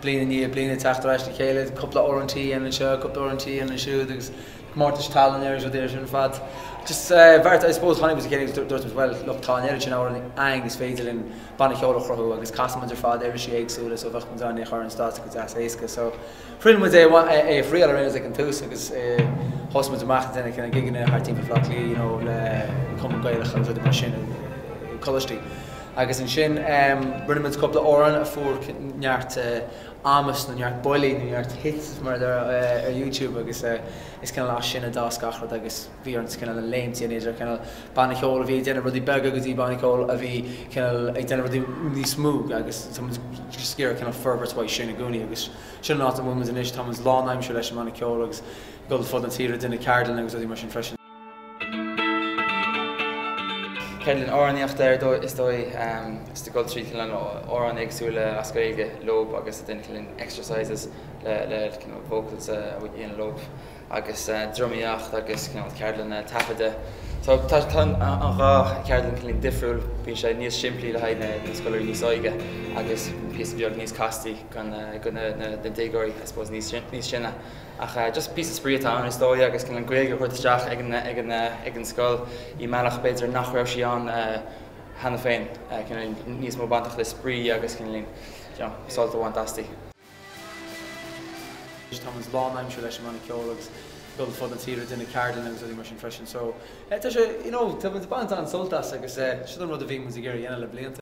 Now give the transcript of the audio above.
Bliain i ndiaidh bliana teacht ar ais le chéile, cúpla uair an tseachtain anseo, cúpla uair an tseachtain ansiúd, agus comórtais tallann ar rud ar fad. Just bhuel, I suppose, tháinig muid le chéile agus dúirt muid, bhuel, look, tá an oiread sin amhrán againn is féidir linn banna ceoil a chruthú agus casann muid ar fad uirlisí éagsúla so bheadh muid in ann é a chur ar stáitse go deas éasca so, Rinne muid é a thriail ar aon nós ag an tús agus thosaigh muid amach ag déanamh kinda gigeanna thart timpeall Bhleá Cliath you know le Cumann Gaelach agus rudaí mar sin i gcoláistí. Agus ansin rinne muid cúpla amhrán a fuair neart amas nó neart buillí nó neart hits mar a deirtear ar YouTube agus is kinda as sin a d'fhás gach rud agus bhí orainn cineál léimt idir cineál banna ceoil a bhí ag déanamh rudaí beaga go dtí banna ceoil a bhí cineál ag déanamh rudaí níos mó agus tá muid just ag iarraidh cineál forbairt uaidh sin i gcónaí agus sin an áit a bhfuil muid anois tá muid lán aimsire leis an mbanna ceoil agus ag dul ar fud na tíre ag déanamh ceardlanna agus rudaí mar sin freisin. ceardlann amhránaíochta is dóigh just ag dul trí cineál amhráin éagsúla as Gaeilge leob agus ag déanamh cineál exercises le cineál vocals a dhéanamh leob. agus dramaíocht agus cineál ceardlanna taifeadta. Tá an dhá cheardlann cineál difriúil, bíonn sé níos simplí le haghaidh na scoláirí níos óige agus píosa beag níos castaí do na déagóirí I suppose níos sine. Ach just píosa spraoi atá ann is dóigh agus cineál an Ghaeilge a thabhairt isteach ag an scoil i mbealach b'fhéidir nach raibh sí ann cheana féin, cineál níos mó bainteach le spraoi agus cineál sult a bhaint asti. Tá muid lán aimsire leis an mbanna ceoil agus ag dul ar fud na tíre ag déanamh ceardlanna agus rudaí mar sin freisin. So tá sé, you know, tá muid ag baint an-sult as agus sin an rud a bhí muid ag iarraidh a dhéanamh le blianta.